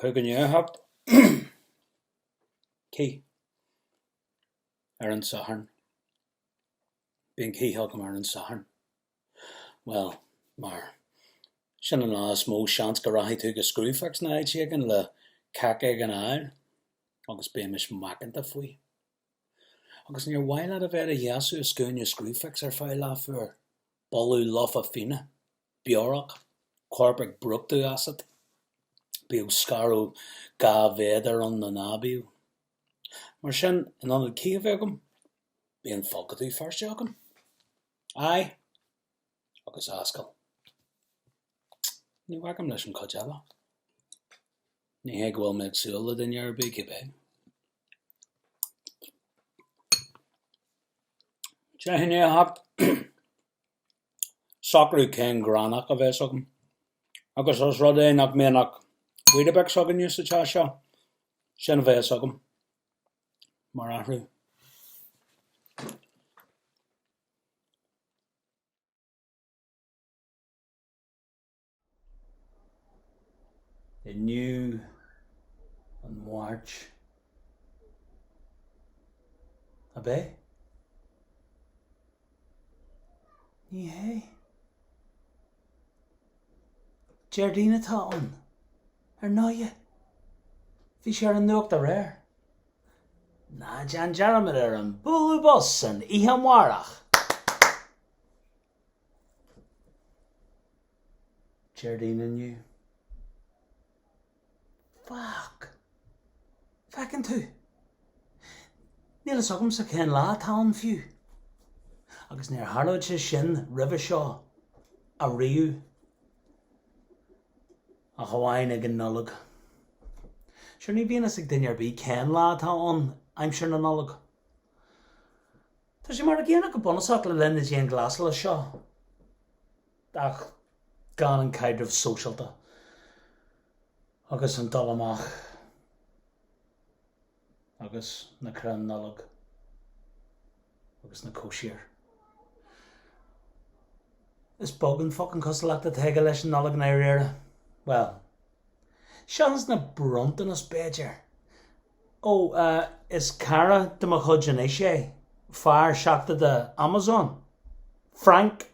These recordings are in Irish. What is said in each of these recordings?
Cuir go ndéarfadh cith ar an Satharn, bíonn cith agam ar an Satharn. Bhuel, mar sin an lá is mó seans go rachaidh tú go Screwfix nó áit éigin le cac éigin a fháil agus bímis macánta faoi. Agus níor mhaith leat a bheith i do sheasamh i scuaine Screwfix ar feadh leath uair boladh lofa fíona, beorach, corp ag brúchtadh asat, bíodh scaradh dhá mhéadar ann nó ná bíodh. Mar sin, in ionad cith a bheith agam, bíonn folcadú Feirste agam. Aghaidh agus ascaill. Ní bhacaim leis an chuid eile. Ní hé go bhfuil mé ag súil le duine ar bith, cibé. Déan iarracht socrú cén gránach a bheas agam, agus os rud é nach mbíonn ach Weetabix againne sa teach seo, sin a bheas agam mar athrú. Inniu, an Mháirt, ab é? Ní hé. Déardaoin atá ann, ar ndóighe. Bhí sé ar an nuacht aréir. Ná déan dearmad ar an bualadh bos san oíche amárach! Déardaoin inniu. Fuck! Feiceann tú? Níl fhios agamsa cén lá atá ann fiú. Agus níor tharlódh sé sin roimhe seo ariamh ach amháin ag an Nollaig. Sure ní bhíonn fhios ag duine ar bith cén lá atá ann aimsir na Nollag. Tá sé mar an gcéanna go bunúsach le linn na dianghlasála seo ach gan an caidreamh sóisialta agus an dul amach agus na crainn Nollag agus na cóisir. Is beag an focan cosúlacht atá aige leis an Nollaig i ndáiríre. Bhuel, seachas na bronntanais b'fhéidir, Ó, is cara de mo chuid anois é, fear seachadta Amazon, Frank.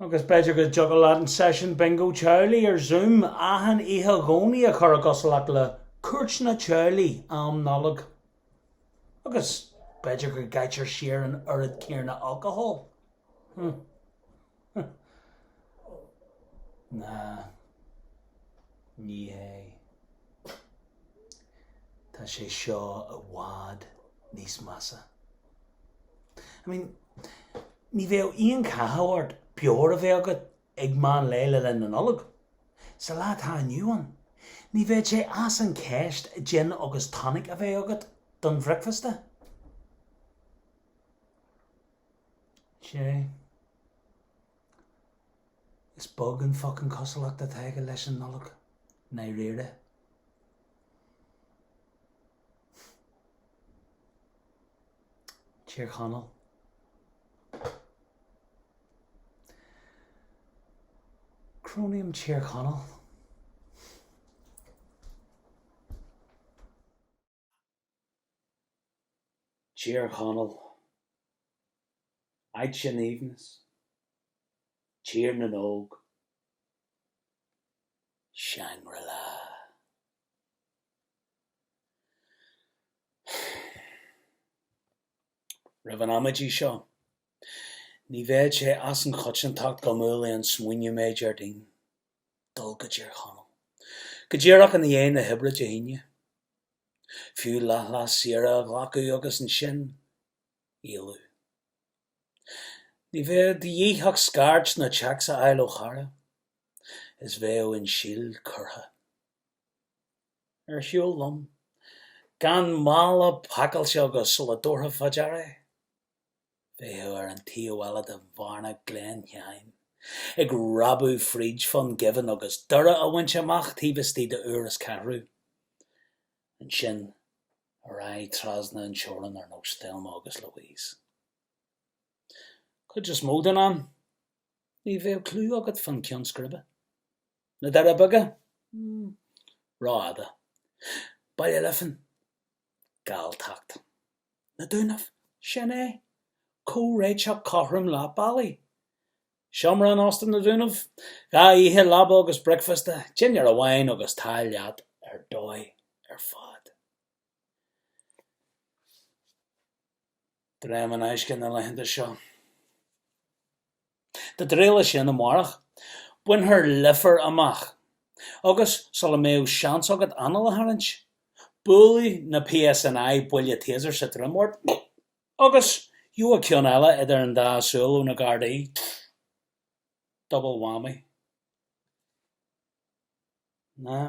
Agus b'fhéidir go dtiocfadh leat an seisiún Bingo Teaghlaigh ar Zoom achan oíche Dhomhnaigh a chur i gcosúlacht le cuairteanna teaghlaigh am Nollag. Agus b'fhéidir go gcaitear siar an oiread céarna alcóil. Hm. Hup. Ná ní hé. Tá sé seo i bhfad níos measa. I mean, ní bheadh aon cathú ort beoir a bheith agat ag meán lae le linn na Nollag. Sa lá atá inniu ann, ní bheadh sé as an ceist gin agus tonic a bheith agat don bhricfeasta. Sea. Is beag an focain cosúlacht atá aige leis an Nollaig, i ndáiríre. Tír Chonaill. Crónaím Tír Chonaill. Tír Chonaill, áit an aoibhneas, Tír na nÓg, Shangri-La. Roimh an amaidí seo, ní bheadh sé as an choitiantacht go mbuailfeadh an smaoineamh mé, Déardaoin. dul go Tír Chonaill, go díreach ina dhiaidh na hoibre Dé hAoine. Fiú leathlá saoire a ghlacadh agus ansin éalú. Ní bheadh de dhíth ach scairt nó téacs a fháil ó chara, is bheadh an síol curtha. Ar shiúl liom, gan mála pacáilte agus sula dtabharfá fá dear é bheifeá ar an taobh eile de Bhearna Gleann Sheáin, ag réabadh fríd Dhún Geimhin agus Doire a bhaint amach taobh istigh de uair is ceathrú. Ansin ar aghaidh trasna an teorann ar nós Thelma agus Louise. Cuid is mó den am, ní bheadh clue agat fán ceann scríbe. Na Doirí Beaga? Hm. Rófhada. Baile Lifín. Galltacht. na Dúnaibh. Sin é. Comhréiteach cothrom leath bealaigh. Seomra in Óstán na Dúnaibh. Dhá oíche leaba agus bricfeasta, dinnéar amháin agus tá leat ar dóigh ar fad. Dréim in aisce na laethanta seo. De réir le sin, amárach, bainfear Leifear amach. Agus, sula mbeidh seans agat anáil a tharraingt, buailfidh na PSNI buille Taser sa droim ort, agus gheobhaidh ceann eile idir an dá súil ó na Gardaí. Double whammy. Nah.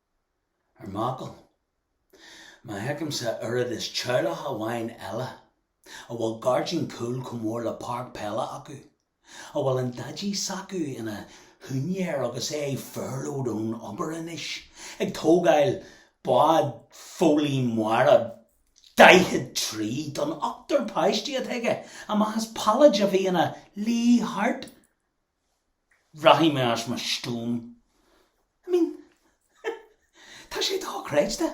Ar m'fhocal, má fheicimse oiread is teaghlach amháin eile a bhfuil gairdín cúil chomh mór le páirc peile acu, a bhfuil an daidí s'acu ina shiúinéir agus é furloughed ón obair anois, ag tógáil bád foghlaí mara 40 troigh don ochtar páistí atá aige, amach as pailléid a bhí ina luí thart. Rachaidh mé as mo stuaim. I mean, tá sé dochreidte.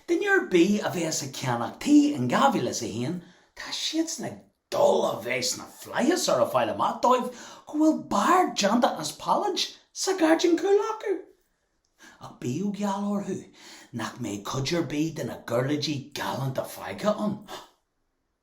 Duine ar bith a bheas ag ceannach tí in 2001, tá siadsan ag dul a bheith sna flaithis ar a fháil amach dóibh go bhfuil beár déanta as pailléid sa ghairdín cúil acu. Ach bíodh geall orthu nach mbeidh cuid ar bith de na giuirléidí galánta fágtha ann.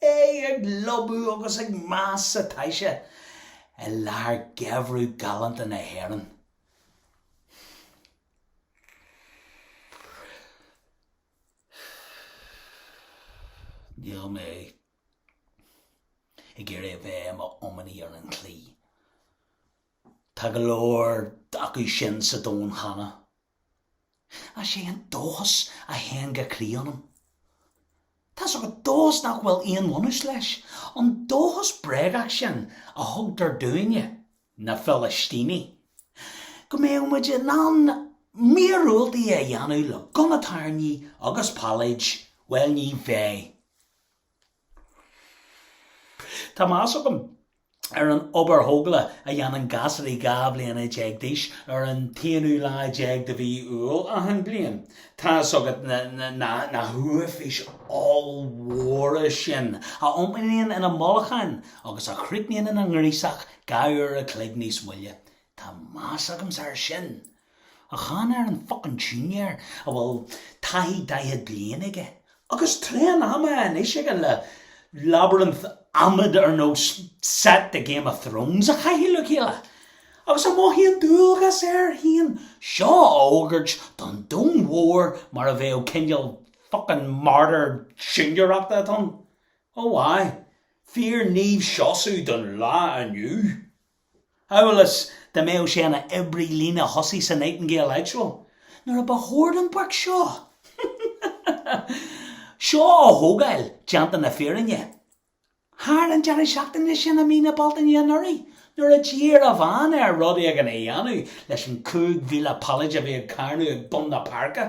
É ag lobhadh agus ag meath sa taise i lár gheimhreadh galánta na hÉireann. Níl mé ag iarraidh a bheith i m'iománaí ar an chlaí. Tá go leor acu sin sa domhan cheana. Is é an dóchas a théann go croí ionam. Tá's agat dóchas nach bhfuil aon bhunús leis, an dóchas bréagach sin a thugtar dúinne, na Filistínigh, go mbeidh muid in ann míorúiltí a dhéanamh le gunna tairní agus pailléid, bhuel ní bheidh. Tá meas agam ar an obair thógála a dhéanann gasraí dhá bhliana déag d'aois ar an t-aonú lá déag de mhí Iúil achan bhliain. Tá 'fhios agat na huafáis ollmhóra sin a iompaíonn ina mbolcáin agus a chríochnaíonn ina ngríosach dhá uair a chloig níos moille. Tá meas agamsa air sin! Ach chan ar an focan siúinéir a bhfuil taithí daichead bliain aige, agus tréan ama anois aige le labyrinth adhmaid ar nós set de Game of Thrones a chaitheamh le chéile, agus a mhothaíonn dualgas air féin seo a fhógairt don domhan mhór mar a bheadh cineál focan martyr siúinéireachta atá ann, Ó, aye, fíor Naomh Seosamh don lá inniu! amhail is dá mbeadh sé ina oibrí líne thosaigh sa Nightingale Hospital, nuair a ba chóir don prick seo seo a thógáil, déanta na fírinne, thar an deireadh seachtaine sin i mí na Bealtaine anuraidh nuair a d'iarr a bhean air rud éigin a dhéanamh leis an 5,000 pailéid a bhí ag carnadh ag bun na páirce.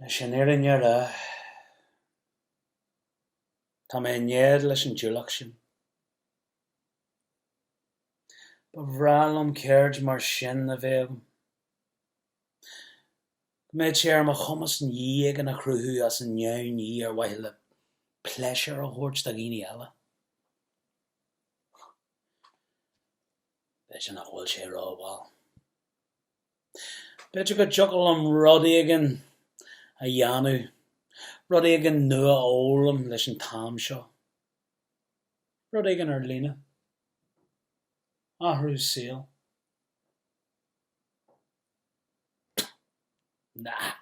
Leis an fhírinne a rá, tá mé in éad leis an diúlach sin. Ba bhreá liom ceird mar sin a bheith agam, go mbeadh sé ar mo chumas ní éigin a chruthú as an neamhní ar mhaithe le pléisiúr a thabhairt do dhaoine eile. B'fhéidir nach bhfuil sé rómhall. B'fhéidir go dtiocfadh liom rud éigin a dhéanamh, rud éigin nua a fhoghlaim leis an t-am seo. Rud éigin ar líne. Athrú saoil. Nah.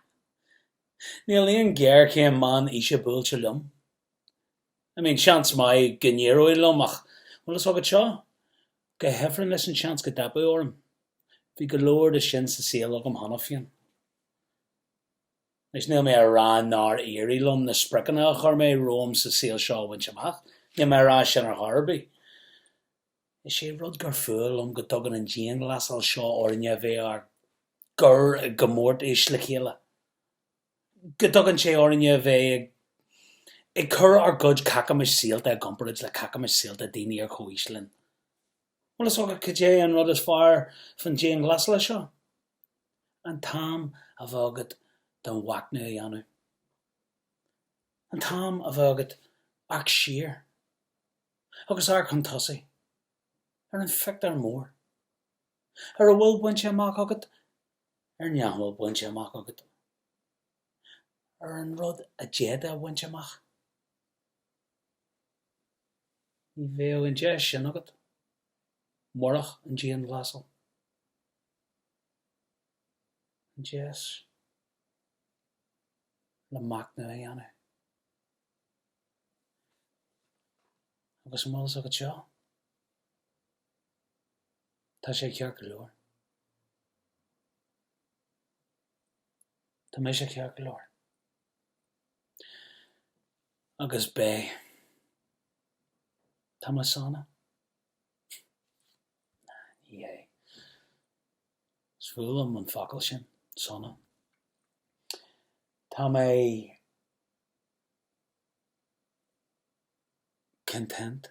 Níl aon ghéarchéim meán aoise buailte liom. I mean, seans maith go n-éireoidh liom ach an bhfuil fhios agat seo. Go hifreann leis an seans go dteipeadh orm. Bhí go leor de sin sa saol agam cheana féin. Anois, níl mé ag rá nár éirigh liom na spriocanna a chuir mé romham sa saol seo a bhaint amach, níl mé ag rá sin ar chor ar bith. Is é an rud gur fuath liom go dtugann an dianghlasáil seo orainne a bheith dár gcur i gcomórtas le chéile. go dtugann sé orainne a bheith ag cur ár gcuid cacamais saolta i gcomparáid le cacamais saolta daoine ar chomhaois linn. Bhuel, is dócha, cad é an rud is fearr faoin dianghlasáil seo? An t-am a bheith agat do mhachnamh a dhéanamh. An t-am a bheith agat amharc siar, agus amharc chun tosaigh, ar an phictiúr mór. ar a bhfuil bainte amach agat, ar nach bhfuil bainte amach agat, ar an rud a d'fhéadfá a bhaint amach. Ní bheadh an deis sin agat murach an dianghlasáil. An deis le machnamh a dhéanamh. Agus an bhfuil fhios agat seo? Tá sé ceart go leor. Tá mise ceart go leor. Agus beidh. Tá mé sona. Ní hé. Is fuath liom an focal sin, sona. Tá mé content.